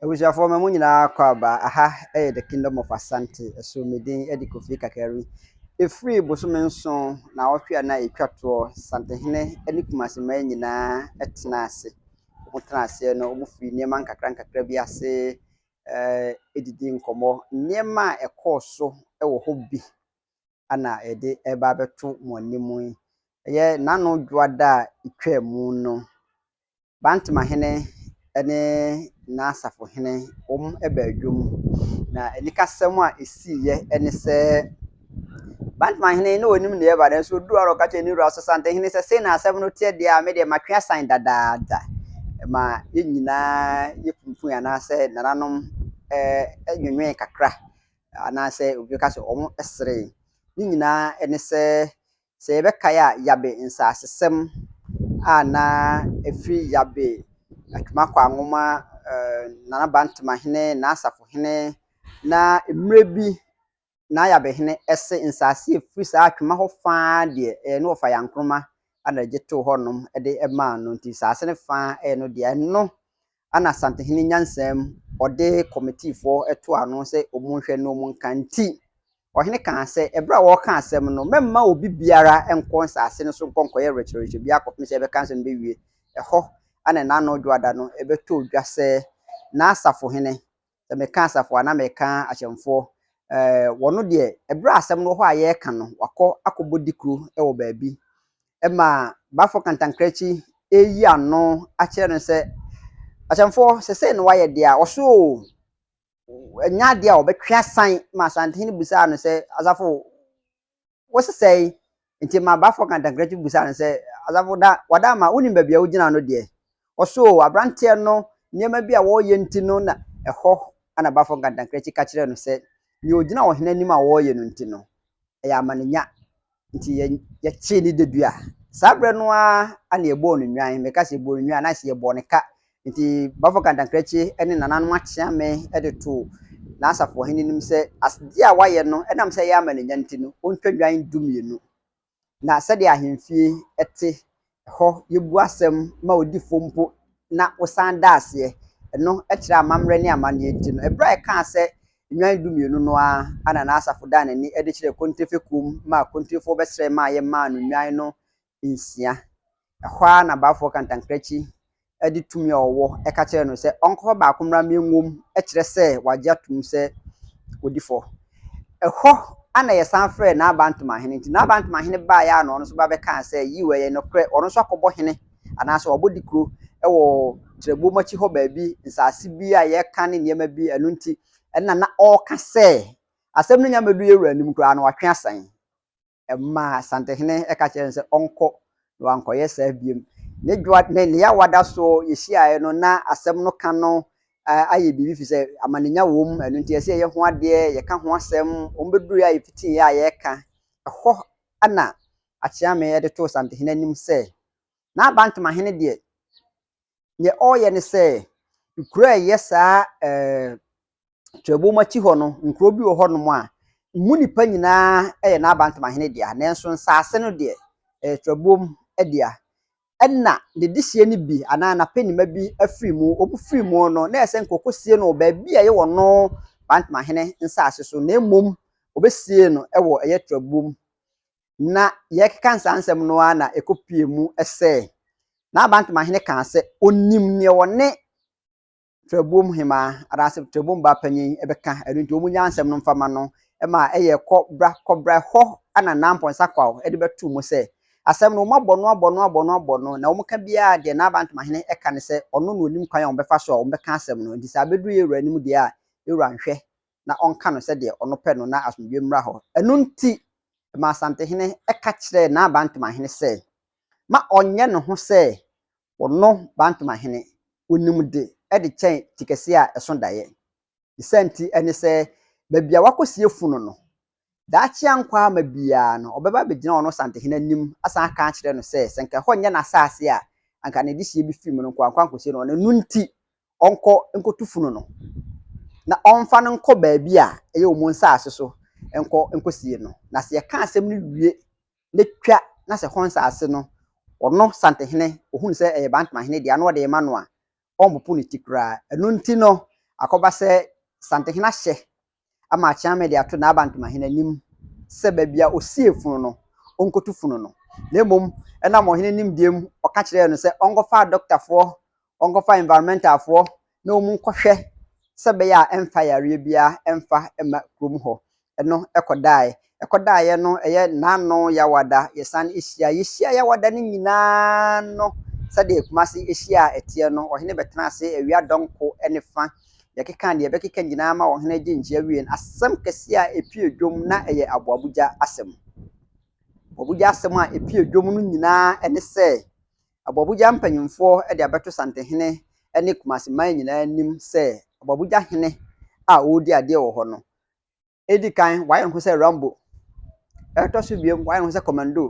Abusuafoɔ ma mo nyinaa kɔ aba aha ɛyɛ the kingdom of asante ɛso me din ɛde kofi kakari ɛfiri bosome nson na ɔtwe a na ɛtwa toɔ santehene ɛne kumase mmaa nyinaa ɛtena ase wɔn tena aseɛ no wɔn firi nneɛma nkakra nkakra bi ase ɛɛ ɛdidi nkɔmmɔ nneɛma a ɛkɔɔ so ɛwɔ hɔ bi. na yɛde reba abɛto mo anim yi yɛ n'ano dwoada a etwaa mu no. Bantmahene ne n'asafohene wɔbaa dwam, na anikasɛm a ɛsiiɛ ne sɛ, Bantmahene na ɔnim deɛ ɛreba nanso ɔduu hɔ ara na ɔka kyerɛɛ ne wura Ɔsasantehene sɛ, Sei na asɛm no teɛ deɛ a, me deɛ matwe asan dadaada. Ma yɛn nyinaa yɛkunkum yɛn anaasɛ nananom nwewene kakra Anaasɛ obi bɛka sɛ wɔseree. Ne nyinaa ne sɛ, sɛ yɛbɛkae a, Yabe nsasesɛm a na ɛfiri Yabe, Atwuma Kwaanwoma, Nana Bantamahene, N'asafohene, na mmerɛ bi na Yabehene se nsase a ɛfiri saa Atwuma hɔ fa ara deɛ, ɛyɛ ne wɔfa Yankroma na ɛgye too hɔnom de maa no, nti nsase no fa a ɛyɛ no dea. Ɛno ana Asantehene nyansaa mu ɔde kɔmitiifoɔ to ano sɛ ɔmu nhwɛ na ɔmu nka nti, ɔhene kaa sɛ, ɛberɛ a wɔreka asɛm no, mɛmma obi biara nkɔ nsaase no so nkɔ nkɔyɛ rekyerɛrekyerɛ biara kɔpem sɛ yɛbɛka asɛm no bɛwie, ɛhɔ ana Nano Dwoada no bɛtɔ dwa sɛ n'asafohene sɛ meka asafo a na meka ahyɛnfoɔ. Ɛɛ wɔn deɛ, ɛberɛ a asɛm no wɔ hɔ a yɛreka no, wɔakɔ akɔbɔ dikuro wɔ baabi. Ɛma Bafo Kantankrachi reyi ano akyerɛ no sɛ, Ahyɛnfoɔ, sɛ sei na wɔayɛ deɛ a, wɔso o! Ɛnyɛ adeɛ a wɔbɛtwe asan ma Asantehene bisaa no sɛ, Asafo, Wosesɛe! Enti ma abaafoɔ ka ntankrankyi bisaa no sɛ, Asafo, da wada ama wonim baabi a wogyina no deɛ? Ɔse, Oo, aberanteɛ no, nneɛma bi a wɔreyɛ nti no na ɛhɔ. Ɛna abaafoɔ ka ntankrankyi ka kyerɛɛ no sɛ, Nea ɔgyina ɔhene anim a wɔreyɛ no nti no, ɛyɛ amanenya, nti yɛ, yɛkyee ne dadua. Saa berɛ no ara na yɛbɔɔ no nnwan. Meka sɛ yɛbɔɔ no nnwan a, na ayɛ sɛ yɛbɔɔ no ka, Enti bɔfo kantankrankyi ne nananom akyea me de too n'asafo ɔhene anim sɛ asɛdeɛ a wayɛ no nam sɛ ɛyɛ amanenya nti no, ɔntwa nnwan dumienu. Na sɛdeɛ ahemfie te, ɛhɔ yɛbu asɛm ma odifoɔ mpo na wosan da aseɛ. Ɛno kyerɛ amammerɛ ne amanneɛ nti no, ɛberɛ a ɛkaa sɛ nnwan dumienu no ara na n'asafo daa n'ani de kyerɛɛ Kontrefekuo mu maa Kontrefoɔ bɛsrɛe maa yɛmaa no nnwan no nsia. Ɛhɔ ara na baafoɔ kantankrankyi de tumi a ɔwɔ ka kyerɛɛ no sɛ ɔnkɔfa baako mmra mmɛ nwom kyerɛ sɛ wagye atom sɛ ɔdi fɔ. Ɛhɔ ara na yɛsan frɛɛ Naabantomanhene. Nti Naabantomanhene baeɛ ara na ɔno nso ba bɛkaa sɛ yiw ɛyɛ nokorɛ ɔno nso akɔbɔ hene anaasɛ wabɔ dikuro wɔ Trɛbom akyi hɔ baabi nsaase bi a yɛka ne nneɛma bi ɛno nti ɛna na ɔreka sɛ asɛm no nya mmɛdu yɛn wura anim koraa no watwe asan. ɛmaa Asantehene ka kyerɛɛ no sɛ ɔnkɔ, na wankɔyɛ saa biom. Ne dwoa ne ne yawa da so yɛhyiaeɛ no na asɛm no ka no ayɛ biribi firi sɛ amanenya wɔ mu, ɛno nti ɛsɛ yɛyɛ ho adeɛ, yɛka ho asɛm, wɔn bɛduruiɛ a yɛfitiiɛ a yɛreka. Ɛhɔ na Akyeame de too Asantehene anim sɛ, N'abantomahene deɛ, deɛ ɔreyɛ ne sɛ, kuro a ɛyɛ saa Kyerɛwbɔ mu akyi hɔ no, nkurow bi wɔ hɔnom a emu nnipa nyinaa yɛ n'abantamahene dea, nanso nsase no deɛ, ɛyɛ kyerɛwbɔ mu dea. Ɛnna ne dehyeɛ no bi anaa n'apɛnima bi afiri mu. Wɔfiri mu no, na ɛyɛ sɛ nka wɔkɔsie no wɔ baabi a ɛyɛ wɔn bantamahene nsase so, na mmom wɔbɛsiee no wɔ ɛyɛ kyerɛwbɔ mu. Na yɛrekeka saa nsɛm no ara na ɛkɔpuee mu sɛ, N'abantamahene kaa sɛ ɔnim deɛ ɔne Trɛbom hemaa anaasɛ Trɛbom ba panyin bɛka, ɛno nti wɔn nyaa nsɛm no mfa ma no ma ɛyɛ kɔ bra kɔ bra hɔ ana Nampɔn Sakwaw de bɛtoo mu sɛ, asɛm no wɔn abɔ no abɔ no abɔ no abɔ no na wɔn ka biara deɛ Naaba Ntomahene ɛka ne sɛ ɔno na ɔnim kwan a wɔn bɛfa so a wɔn bɛka asɛm no nti sɛ abɛduru yɛn wura anim deɛ a yɛn wura nhwɛ na ɔnka no sɛdeɛ ɔno pɛ no na asomdwoeɛ mmra hɔ. Ɛno nti ɛmaa Asantehene ka kyerɛɛ Naaba Ntomahene sɛ ma ɔnyɛ ne ho sɛ wɔnnɔ Bantama hene, wɔnim de de kyɛn tikɛseɛ a ɛso daeɛ. Ne saa nti ne sɛ baabi a wɔakɔsie funu no, daakye ankɔ ama biara no ɔbɛba abɛgyina ɔno Santehene anim asan aka akyerɛ no sɛ, sɛ anka ɛhɔ nyɛ n'asaase a anka ne dehyeɛ bi firi mu no nko ara nkɔ ankɔsie no hɔ, na ɛno nti ɔnkɔ nkɔtu funu no na ɔmfa no nkɔ baabi a ɛyɛ wɔn nsaase so nkɔ nkɔsie no. Na sɛ yɛka asɛm no wie n'atwa na sɛ hɔn nsaase no ɔno Santehene ohun sɛ ɛyɛ Bantamahene dea na ɔde rema no a, ɔmmpopo ne ti koraa. Ɛno nti no, akɔba sɛ Santehene ahyɛ ama Akyeame de ato n'Abantamahene anim sɛ baabi a ɔsie funu no, ɔnkotu funu no. Na mmom, ɛnam ɔhene nimdeɛ mu, ɔka kyerɛɛ no sɛ ɔnkɔfa adɔkotafoɔ wɔnkɔfa environmental foɔ na wɔn nkɔhwɛ sɛ ɛbɛyɛ a ɛmfa yareɛ biara ɛmfa ɛmma kurom hɔ. Ɛno ɛkɔdaeɛ. Ɛkɔdaeɛ no ɛyɛ Nano Yawada yɛsan ɛhyia. Yɛhyia Yawada no nyinaa no sɛdeɛ Kumasi ɛhyia a ɛteɛ no, ɔhene bɛtenaa ase awia dɔnko ne fa. Yɛkekaa deɛ yɛbɛkeka nyinaa ma ɔhene agye nkyea wieɛ no, asɛm kɛseɛ a ɛpue dwom na ɛyɛ Aboabogya asɛm. Aboabogya asɛm a ɛpue dwom no nyinaa ɛne sɛ, Aboabogya mpanyimfoɔ de abɛto Santehene ne Kumasi man nyinaa anim sɛ Aboabogya hene a ɔredi adeɛ wɔ hɔ no, ɛdi kan wayɛ ne ho sɛ Rambo, ɛtɔ so biom wayɛ ne ho sɛ Commando,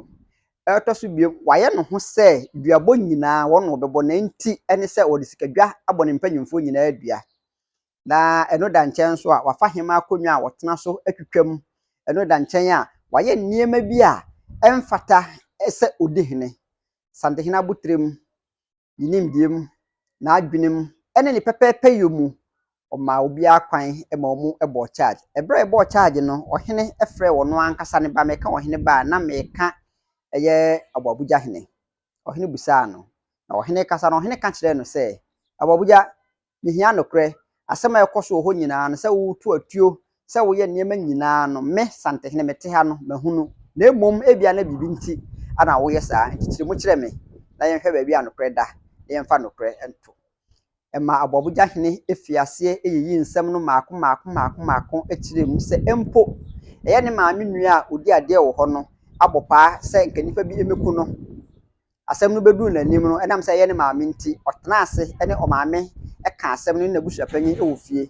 ɛtɔ so biom wayɛ ne ho sɛ duabɔ nyinaa wɔn na wɔbɛbɔ na nti ne sɛ wɔde sikadwa abɔ ne mpanyimfoɔ nyinaa dua. na ɛno da nkyɛn nso a, wafa hemmaa akonnwa a ɔtena so atwitwa mu. Ɛno da nkyɛn a, wayɛ nneɛma bi a ɛmfata sɛ ɔdi hene. Santehene abotire mu, ne nimdeɛ mu, n'adwene mu, ne ne pɛpɛɛpɛyɛ mu, ɔmaa obiara kwan ma wɔbɔɔ charge. Ɛberɛ a ɛbɔɔ charge no, ɔhene frɛɛ ɔno ankasa ne ba. Meka ɔhene ba a, na meka ɛyɛ Aboabugya hene. Ɔhene bisaa no, na ɔhene rekasa no, ɔhene ka kyerɛɛ no sɛ, Aboabugya, Mihia nokorɛ. Asɛm a ɛkɔ so wɔ hɔ nyinaa no sɛ woretu atuo, sɛ woyɛ nneɛma nyinaa no, me, Santehene, mete ha no, mahunu. Na mmom ebia na biribi nti na woyɛ saa. Enti kyerɛ mu kyerɛ me na yɛnhwɛ baabi a nokorɛ da, na yɛmfa nokorɛ nto. Ɛmaa aboabogya hene fii aseɛ yiyii nsɛm no mmaako mmaako mmaako mmaako kyerɛɛ mu sɛ mpo ɛyɛ ne maame nua a ɔdi adeɛ wɔ hɔ no abɔ paa sɛ nka nnipa bi mmɛku no. asɛm no bɛduruu n'anim no, ɛnam sɛ ɛyɛ ne maame nti, ɔtenaa ase ne ɔmaame kaa asɛm no ne n'abusuapanyin wɔ fie.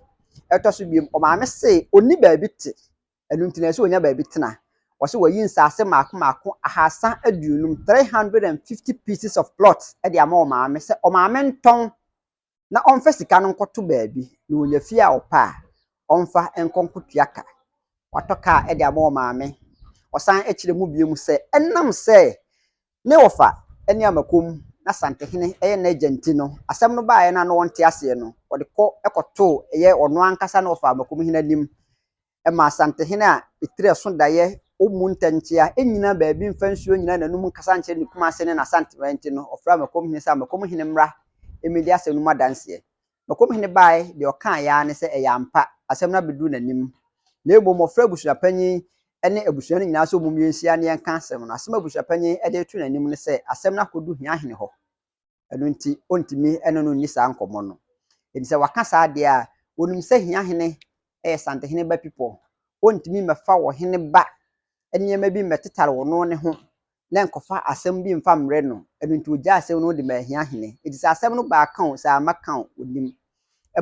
Ɛtɔ so bio, ɔmaame se ɔnni baabi te, ɛno nti na ɛsɛ sɛ ɔnya baabi tena. Wɔse wɔayi nsase mmaako mmaako ahasa aduonum, 350 pieces of plots, de ama ɔmaame sɛ ɔmaame ntɔn na ɔmfa sika no nkɔto baabi na onya fie a ɔpɛ a, ɔmfa nkɔ nkɔtua ka. Watɔ kaa de ama ɔmaame. Ɔsan kyerɛ mu bio sɛ, ɛnam sɛ ne wɔfa ne Amakom ne Asantehene yɛ n'agya nti no, asɛm no baeɛ no a na ɔnte aseɛ no, ɔde kɔ kɔtoo ɛyɛ ɔno ankasa ne wɔfa Amakomhene anim ɛma Asantehene a etiri ɛso daeɛ ɔmmu ntɛnkyea, ɛnnyina baabi mfa nsuo nnyina n'anom nkasa nkyerɛ ne kumase ne n'asantemaa nti no, ɔfrɛɛ Mɛkɔmhene sɛ, Mɛkɔmhene mmra mmɛdi asɛm no mu adanseɛ. Mɛkɔmhene baae, deɛ ɔkaaeɛ ara ne sɛ ɛyɛ ampa, asɛm no abɛduru n'anim. Na mmom ɔfrɛɛ abusuapanin ne abusua no nyinaa sɛ ɔmom yɛnhyia na yɛnka asɛm no. Asɛm a abusuapanin de reto n'anim ne sɛ, asɛm no akɔdu Hiahene hɔ. ɛno nti ɔntumi ne no nni saa nkɔmmɔ no. Enti sɛ waka saa deɛ a, ɔnim sɛ Hiahene yɛ Santehene ba pipɔ. Ɔntumi mmɛfa ɔhene ba nneɛma bi mmɛtetare ɔno ne ho na nkɔfa asɛm bi mfa mmrɛ no. Ɛno nti ɔgyaa asɛm no de maa Hiahene. Enti sɛ asɛm no ba a, aka o, sɛ amma ka o, ɔnim.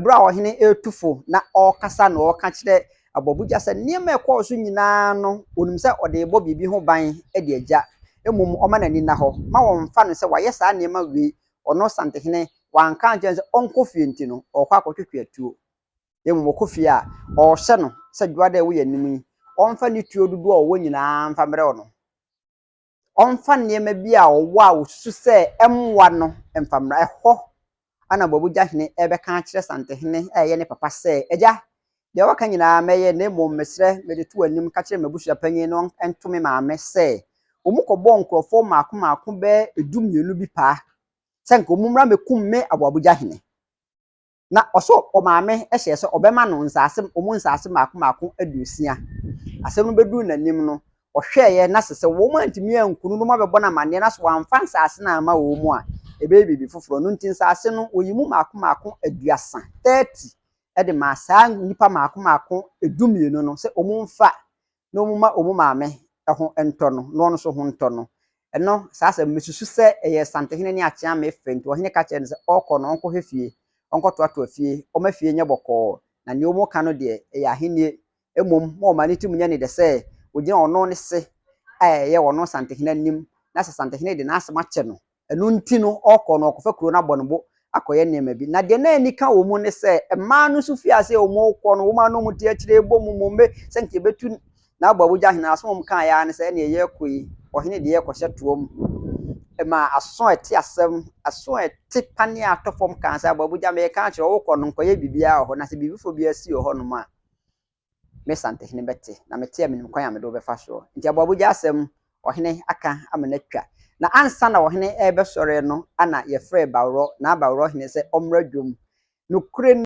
Bere a ɔhene retu fo na ɔrekasa na ɔreka kyerɛ abɔbogya sɛ nneɛma a ɛkɔɔ so nyinaa no, onim sɛ ɔde rebɔ biribi ho ban de agya. Mmom ɔma n'ani nna hɔ ma wɔmfa no sɛ wayɛ saa nneɛma wei, ɔno santehene, wanka ankyerɛ no sɛ ɔnkɔ fie nti no, ɔrekɔ akɔtwetwe atuo. Mmom ɔkɔ fie a, ɔrehyɛ no sɛ dwoada a ɛwɔ yɛn anim yi, ɔmfa ne tuo dodoɔ a ɔwɔ nyinaa mfa mmrɛ ɔno. ɔmfa nneɛma bi a ɔwɔ a osusu sɛ ɛmmoa no mfa mmra. Ɛhɔ na Boabogya Hene rebɛka akyerɛ Santehene a ɛyɛ ne papa sɛ, Agya, deɛ woaka nyinaa mɛyɛ, na mmom mesrɛ mede to w'anim ka kyerɛ m'abusua panyin no nto me maame sɛ wɔnkɔbɔɔ nkurɔfoɔ mmaako mmaako bɛyɛ dummienu bi paa sɛ anka wɔmmra mmɛkum me Aboabogya Hene. Na ɔsoo ɔmaame hyɛɛ sɛ ɔbɛma no nsaase, wɔn nsaase mmaako mmaako aduosia. Asɛm no bɛduruu n'anim no, ɔhwɛeɛ na sɛ sɛ wɔantumi ankunu no ma abɛbɔ no amanneɛ na sɛ wɔamfa nsaase no amma wɔn a, ɛbɛyɛ biribi foforɔ. Ɛno nti nsaase no, wɔyii mu mmaako mmaako aduasa, 30, de maa saa nnipa mmaako mmaako dumienu no sɛ wɔmfa na wɔn mma wɔn maame ho ntɔ no, na ɔno nso ho ntɔ no. Ɛno, saa asɛm no, mesusu sɛ ɛyɛ Santehene ne Akyeame fɛ, nti ɔhene ka kyerɛɛ no sɛ ɔrekɔ no, ɔnkɔhwɛ fie, ɔnkɔtoatoa fie, ɔmma fie nyɛ bɔkɔɔ, na nea wɔreka no deɛ, ɛyɛ ahennie. Mmom, ma ɔman no tirim nyɛ no dɛ sɛ wɔgyina ɔno ne se a ɛyɛ ɔno Santehene anim, na sɛ Santehene de n'asɛm akyɛ no Ɛno nti no, ɔkɔ no, ɔkɔfa kuro no abɔ ne bo akɔyɛ nneɛma bi. Na deɛ na ani ka wɔn mu ne sɛ, mmaa no nso firi aseɛ a wɔrekɔ no, wɔn a na wɔte akyire rebɔ mu mmombe sɛ nka yɛbɛtu n'aboawogya hene. Asɛm a wɔkaa ara ne sɛ, ɛnneɛ yɛrekɔ yi, ɔhene deɛ yɛrekɔhyɛ toa mu. Ɛmaa aso a ɛte asɛm, aso a ɛte paneɛ a atɔ fam kaa sɛ, aboawogya, meka akyerɛ wo, wokɔ no, nkɔyɛ biribiara wɔ hɔ, na sɛ biribi foforɔ biara si wɔ hɔnom a, me santehene bɛte, na mete a menim kwan a mede wo bɛfa soɔ. Nti aboabogya asɛm ɔhene aka ama no atwa. Na ansa na ɔhene rebɛsɔre no na yɛfrɛɛ Baworɔ, naa Baworɔ hene sɛ ɔmmra dwom. Nokorɛ ni.